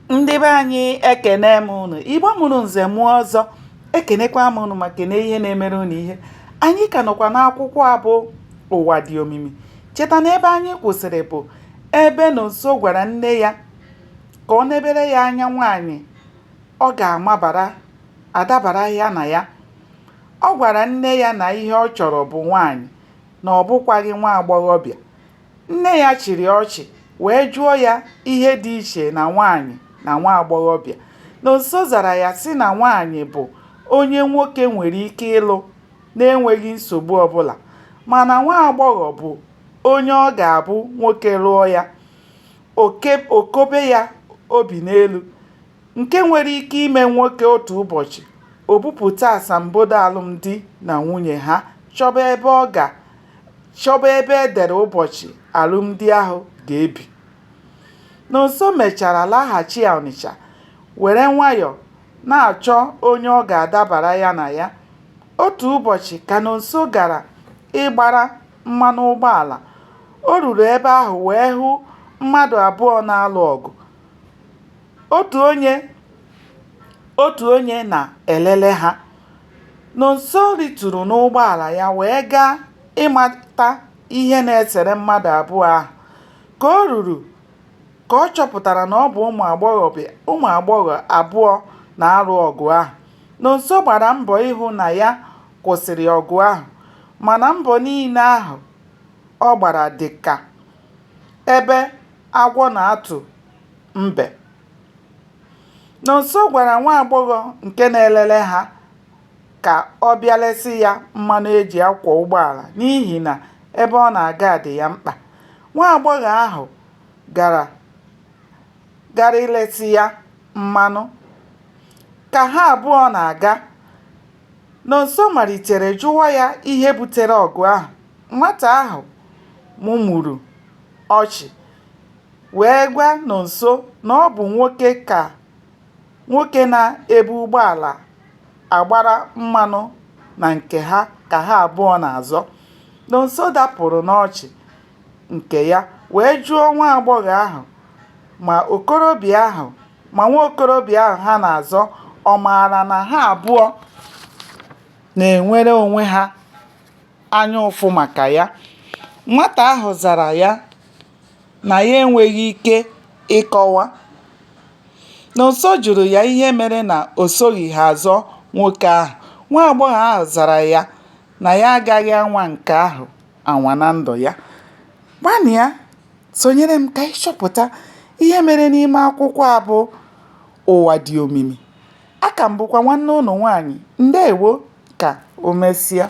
ndị be anyị ekene m unu igbo mụrụ nze mụọ ọzọ ekenekwa m unu ma kene ihe na-emere unu ihe anyị ka nọkwa n'akwụkwọ a bụ ụwa dị omimi cheta na ebe anyị kwụsịrị bụ ebe nonso gwara nne ya ka o nebere ya anya nwaanyị ọ ga-amabara adabara ya na ya ọ gwara nne ya na ihe ọ chọrọ bụ nwaanyị na ọ bụkwaghị nwa agbọghọbịa Nne ya chịrị ọchị wee jụọ ya ihe dị iche na nwaanyị na nwa agbọghọbịa. Nonso zara ya sị na nwaanyị bụ onye nwoke nwere ike ịlụ n'enweghị nsogbu ọbụla mana nwa agbọghọ bụ onye ọ ga-abụ nwoke lụọ ya, o kobe ya obi n'elu. nke nwere ike ime nwoke otu ụbọchị o bupụta asambodo alụmdi na nwunye ha chọba ebe e dere ụbọchị alụmdi ahụ ga-ebi. Nonso mechara laghachi Ọnịcha were nwayọ na-achọ onye ọ ga-adabara ya na ya. Otu ụbọchị ka Nonso gara ịgbara mmanụ ụgbọala, o ruru ebe ahụ wee hụ mmadụ abụọ na-alụ ọgụ. Otu onye otu onye na-elele ha. Nonso rịturu n'ụgbọala ya wee gaa ịmata ihe na-esere mmadụ abụọ ahụ. Ka o ruru ka ọ chọpụtara na ọ bụ ụmụ agbọ ụmụ agbọghọ abụọ na-alụ ọgụ ahụ. Nonso gbara mbọ ịhụ na ya kwụsịrị ọgụ ahụ mana mbọ niile ahụ ọ gbara dị ka ebe agwọ na-atụ mbe. Nonso gwara nwa agbọghọ nke na-elele ha ka ọ bịa lesị ya mmanụ e ji akwọ ụgbọala n'ihi na ebe ọ na-aga dị ya mkpa. Nwa agbọghọ ahụ gara gara ilesị ya mmanụ. Ka ha abụọ na-aga, Nonso malitere jụwa ya ihe butere ọgụ ahụ. Nwata ahụ mụmụrụ ọchị. wee gwa Nonso na ọ bụ nwoke ka nwoke na-ebu ụgbọala agbara mmanụ na nke ha ka ha abụọ na-azọ. Nonso dapụrụ n'ọchị nke ya wee jụọ nwa agbọghọ ahụ ma okorobịa ahụ ma nwa okorobịa ahụ ha na-azọ ọ maara na ha abụọ na-enwere onwe ha. anya ụfụ maka ya. Nwata ahụ zara ya na ya enweghị ike ịkọwa. Nonso jụrụ ya ihe mere na o soghị ha azọ nwoke ahụ. Nwa agbọghọ ahụ zara ya na ya agaghị anwa nke ahụ anwa na ndụ ya. Gbalịa sonyere m ka anyị chọpụta ihe mere n'ime akwụkwọ a bụ Ụwa dị omimi. Aka m bụkwa nwanne unu nwaanyị. Ndeewo. Ka o mesịa.